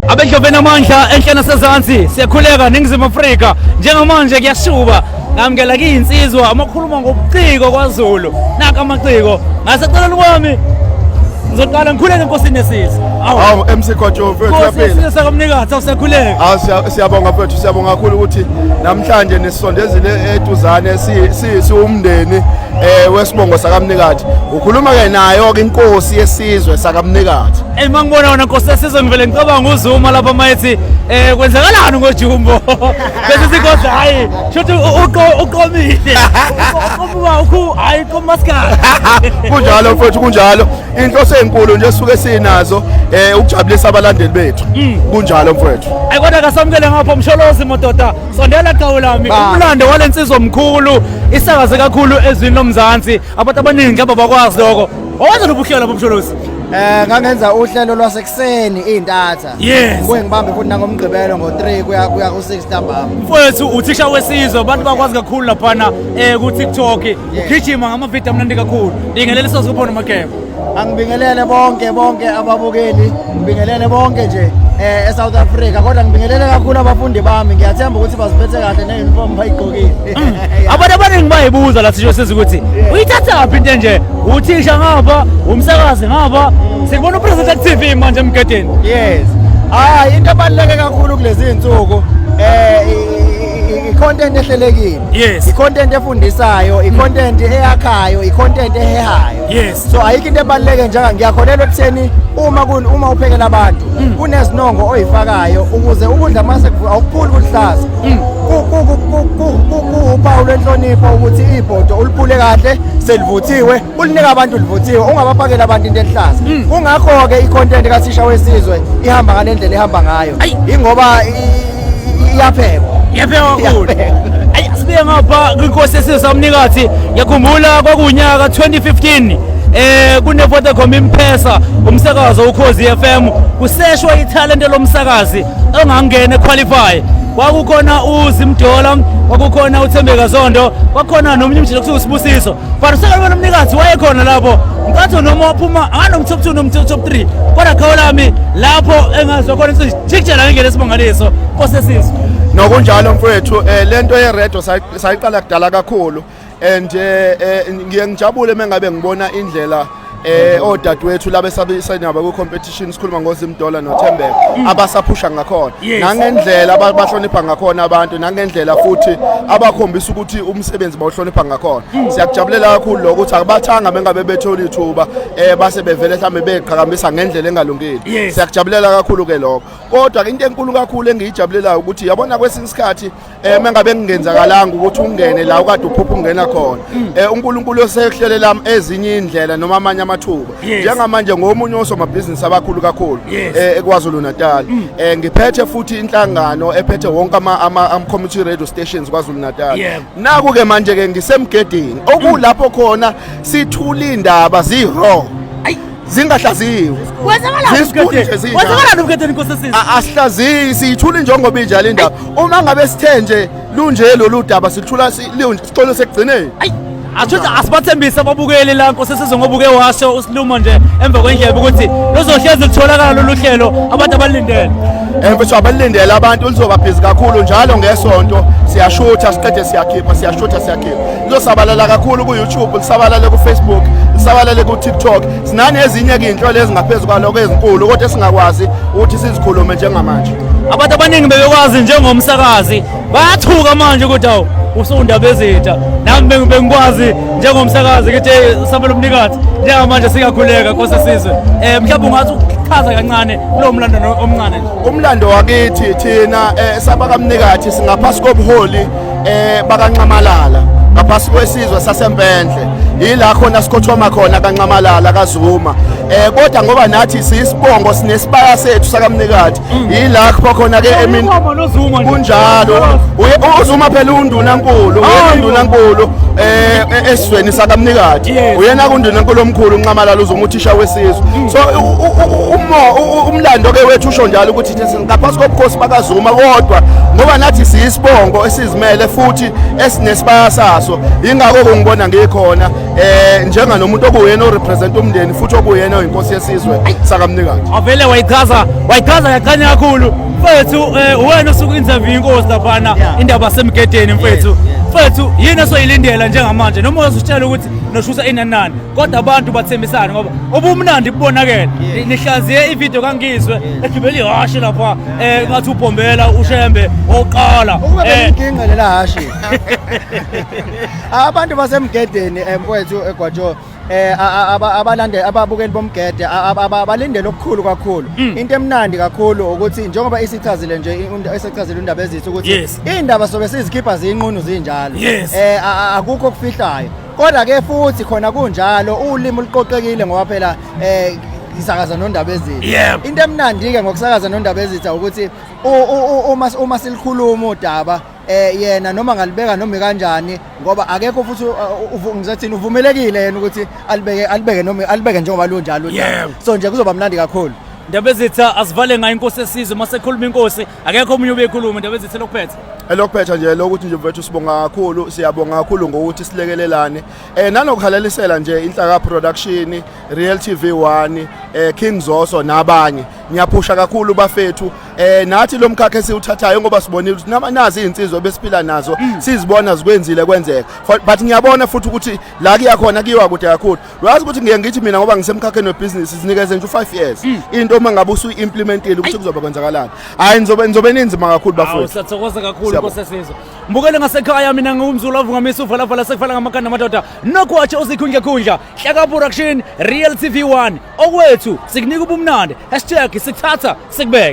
abedloveni amandla enhle nasezansi siyakhuleka ningizimu afrika njengamanje kuyashuba ngamukela kiyinsizwa amakhuluma ngobuciko kwazulu naka amaciko ngaseceleni kwami ngizoqala ngikhuleke enkosini yesizwe awu MC Khotsho mfethu uyaphila sakamnikazi awusekhuleke awu siyabonga mfethu siyabonga kakhulu ukuthi namhlanje nisondezile etuzane siwumndeni eh wesibongo sakamnikathi ukhuluma ke nayo ke inkosi yesizwe sakamnikathi eh mangibona wona inkosi yesizwe ngivele ngicabanga uzuma lapha mayethi eh kwenzakalani ngojumbo bese sigodla hayi shothi uqomile uqomuka ukhu hayi komaskala kunjalo mfowethu kunjalo inhloso enkulu nje suke sinazo eh ukujabulisa abalandeli bethu hmm. kunjalo mfowethu ayikwona kasamukele ngapha umsholozi mododa sondela qhawe lami umlando wale nsizwa mkhulu isakaze kakhulu ezwini lomzansi abantu abaningi ngaba bakwazi lokho owenza lobuhlelo bomsholozi Eh ngangenza uhlelo lwasekuseni izintatha. Yes. Kuye ngibambe futhi nangomgqibelo ngo3 kuya kuya ku6 ntambama. Mfowethu uthisha wesizwe abantu bakwazi kakhulu laphana eh ku TikTok. Ugijima ngama video amnandi kakhulu. Ingelele soze kuphona mageba. angibingelele bonke bonke ababukeli ngibingelele bonke nje eh eSouth Africa kodwa ngibingelele kakhulu abafundi bami ngiyathemba ukuthi baziphethe kahle neuniform bayigqokile mm. abantu abaningi bayibuza la sisho siza ukuthi uyithatha phi into nje uthisha ngaba umsakazi ngaba sikubona upresident at TV manje emgedeni yes ah into ebaluleke kakhulu kulezi insuku eh i-content ehlelekile yes i-content efundisayo i-content eyakhayo i-content ehehayo yes so ayikho into ebaluleke njanga ngiyakholelwa ekutheni uma kun uma uphekela abantu mm. kunezinongo oyifakayo ukuze ukudla mase awukuphuli kuhlaza mm. kuwuphawu lwenhlonipho ukuthi ibhodo ulipule kahle selivuthiwe ulinika abantu livuthiwe ungabapakela abantu into ehlaza mm. kungakho-ke i-content kathisha wesizwe ihamba ngale ndlela ihamba ngayo ingoba iyaphekwa iyaphekwa kakhulu ayi sibuye ngapha kwinkosi yesizwe samnikathi ngiyakhumbula kwakuwunyaka 2015 eh kuneVodacom imphesa umsakazo ukhozi FM kuseshwa ithalente lomsakazi ongangene qualify kwakukhona uzimdola kwakukhona uthembeka zondo kwakhona nomunye umjila kuthiwa usibusiso but usekalibona umnikazi wayekhona lapho nkathi noma waphuma anganomthophu nomthophu 3 kodwa khawulami lapho engazwa khona Jikjela ngeke lesibongaliso osesizwe. Nokunjalo mfowethu eh lento ye radio sayiqala kudala kakhulu and eh, eh ngiye ngijabule mengabe ngibona indlela eh odadewethu laba esabisenaba ku competition sikhuluma ngozimdola nothembeka mm. abasaphusha ngakhona nangendlela abahlonipha ngakhona abantu nangendlela futhi abakhombisa ukuthi umsebenzi bawuhlonipha ngakhona mm. siyakujabulela kakhulu lokho ukuthi akubathanga bengabe bethola ithuba eh base bevele mhlambe beqhakambisa ngendlela engalungile Stadium yes. siyakujabulela kakhulu ke lokho kodwa into enkulu kakhulu engiyijabulelayo ukuthi yabona kwesinye isikhathi eh mengabe ngingenzakalanga ukuthi ungene la ukade uphupha ungena khona mm. eh uNkulunkulu osehlelela ezinye indlela noma amanye amathuba njengamanje ngomunye osomabhizinisi abakhulu kakhulu eh eKwaZulu Natal mm. eh ngiphethe futhi inhlangano ephethe wonke ama ama community radio stations KwaZulu Natal naku ke manje ke ngisemgedini okulapho mm. khona sithula indaba zero zingahlaziwe asihlaziyi siyithula injongo binja le ndaba uma ngabe sithe nje lunje lolu daba silithula sixolo sekugcineni athuthi asibathembise ababukeli la nkosi sizwe ngoba uke washo usilumo nje emva kwendlebe ukuthi luzohlezi lutholakala lolu hlelo abantu abalindele emfethu abalindele abantu luzobabhizi kakhulu njalo ngesonto siyashutha siqede siyakhipha siyashutha siyakhipha Liyosabalala kakhulu ku-YouTube, lisabalale ku-Facebook, lisabalale ku-TikTok. Sinani ezinye izinhlelo ezingaphezu kwaloko ezinkulu kodwa esingakwazi ukuthi sizikhulume njengamanje. Abantu abaningi bebekwazi njengomsakazi bayathuka manje ukuthi awu usundaba ezitha nami bengikwazi njengomsakazi ukuthi sabelo mnikazi njengamanje siyakhuleka kose sizwe um mhlawumbe ungathi ukuchaza kancane kulowo mlando omncane nje umlando wakithi thina um eh, sabakamnikathi singaphasi kobuholi eh bakanxamalala ngaphasi kwesizwe sasempendle yila khona sikhothoma khona kanxamalala kazuma eh kodwa ngoba nathi sisibongo sinesibaya sethu sakamnikati mm. yila khona khona ke emini kunjalo uzuma phela unduna nkulu unduna nkulu eh e-, esizweni sakamnikati uyena kunduna nkulu omkhulu unxamalala uzuma uthisha wesizwe mm. so umo umlando ke wethu usho njalo ukuthi ngaphansi kobukhosi bakazuma kodwa ngoba nathi siyisibongo esizimele futhi esinesibaya saso yingakho kungibona ngikhona eh njenga nomuntu okuyena orepresent umndeni futhi okuyena oyinkosi yesizwe sakamnikazi avele wayichaza wayichaza yaqanya kakhulu mfethu eh, wena osuku interview inkosi laphana indaba semgedeni mfethu mfethu yini esoyilindela njengamanje noma uzitshela ukuthi noshusa inanani kodwa abantu bathembisane ngoba ubumnandi bubonakele nihlaziye ividiyo kangizwe egibela ihhashi lapha um ngathi ubhombela ushembe oqala ukube eh. benginginqe lela hhashi abantu basemgedeni um mfowethu egwajo um eh, abalande ababukeli bomgede abalindele okukhulu kakhulu mm. into emnandi kakhulu ukuthi njengoba isichazile nje esechazile undaba ezithu ukuthi iy'ndaba sobe sizikhipha ziyinqunu zinjalo um akukho okufihlayo Kodwa ke futhi khona kunjalo ulimi luqoqekile ngoba phela eh isakaza nondaba ezitha Yep. into emnandi ke ngokusakaza nondaba ezitha ukuthi u- u- u- uma uma silikhuluma udaba eh yena noma ngalibeka noma ikanjani ngoba akekho futhi u- u- uvu- ngizothini uvumelekile yena ukuthi alibeke alibeke noma alibeke njengoba lunjalo udaba. Yep. so nje kuzoba mnandi kakhulu Ndabezitha asivale ngayo inkosi esizwe masekhuluma inkosi akekho omunye ubekhuluma into bezithe lokuphetha elokuphetha nje lokuthi nje mfethu sibonga kakhulu siyabonga kakhulu ngokuthi silekelelane eh nanokuhalalisela nje inhlaka production real tv 1 eh king zoso nabanye ngiyaphusha kakhulu bafethu eh nathi lo mkhakha esiwuthathayo ngoba sibonile ukuthi nama nazi izinsizwa besiphila nazo mm. sizibona zikwenzile kwenzeka but ngiyabona futhi ukuthi la kuyakhona kuyiwa kude kakhulu uyazi ukuthi ngiye ngithi mina ngoba ngisemkhakheni webhizinisi sinikeze nje u-five years mm. into uma ngabe usuyi-implementile ukuthi kuzobe kwenzakalani hhayi nizobe nizobe ninzima kakhulu bafowethu siyathokoza kakhulu nkosesizwe mbukele ngasekhaya mina ngiwumzulu avungamisa uvalavala sekufana ngamakhanda amadoda nokwatshe uzikhundla khundla hlaka production real tv 1 okwethu sikunika ubumnandi hashtag sikuthatha sikubeke